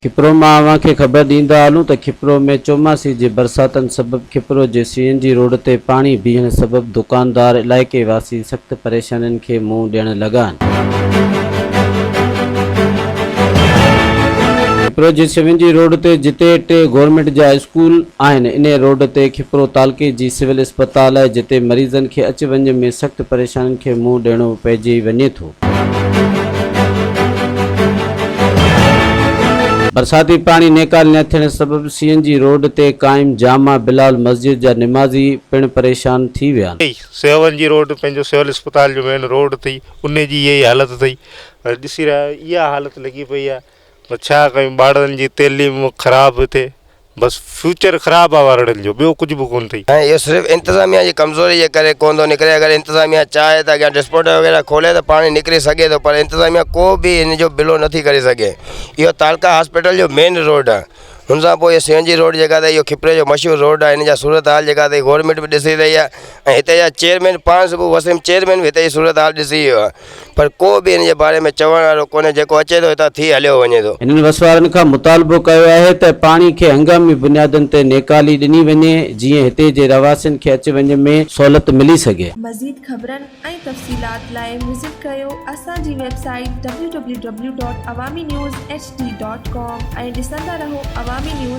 کپرو مان اوهان کي خبر ڏيندا هلون ته کپرو ۾ چوماسي جي برساتن سبب کپرو جي سي اين جي روڊ تي پاڻي بيهڻ سبب دڪاندار علائقي واسي سخت پريشانين کي منهن ڏيڻ لڳا آهن. کپرو جي سوين جي روڊ تي جتي ٽي گورنمينٽ جا اسڪول آهن انهي روڊ تي کپرو تعلقي جي سول اسپتال آهي جتي مريضن کي اچ وڃ ۾ سخت پريشانين کي منهن ڏيڻو پئجي وڃي ٿو. برساتي پاڻي نيڪال نه ٿيڻ سبب سين جي روڊ تي قائم جامع بلال مسجد جا نمازي پڻ پريشان ٿي ويا آهن. سوين جي روڊ پنهنجو سول اسپتال جو مين روڊ اٿئي انهي جي اهي حالت اٿئي پر ڏسي رهيا آهيون اها حالت لڳي پئي آهي پر ڇا ڪيون ٻارڙن جي تعليم خراب ٿئي بس فيوچر خراب آهي ٻارڙن جو ٻيو ڪجهه به ڪونه ٿئي. ۽ اهو صرف انتظاميا جي ڪمزوري جي ڪري ڪونه ٿو نڪري اگر انتظاميا چاهي ته اڳيان ڊسپوٽا وغيره کولي ته پاڻهي نڪري سگهي ٿو پر انتظاميا ڪو به ان جو بلو نٿي ڪري سگهي اهو تعلقه هاسپيٽل جو مين روڊ آهي هن سان پوء اهو سي اين جي روڊ جيڪا اٿئي اهو کپري جو مشهور روڊ آهي هن جا صورت حال جيڪا اٿئي گورمينٽ به ڏسي رهي آهي ۽ هتي جا چيئرمين پاڻ صبح وسيم چيئرمين به هتي جي صورت حال ڏسي ويو آهي پر ڪو به ان جي باري ۾ چوڻ وارو ڪونهي، جيڪو اچي ٿو هتان ٿي هليو وڃي ٿو. هنن وسوارن کان مطالبو ڪيو آهي ته پاڻي کي هنگامي بنيادن تي نيڪالي ڏني وڃي جيئن هتي جي رهواسين کي اچ وڃ ۾ سهولت ملي سگهي. مزيد خبرن ۽ تفصيلات لاء وزٽ ڪيو اسان جي ويب سائيٽ www.awaminews.hd.com ۽ ڏسندا رهو عوامي نيوز.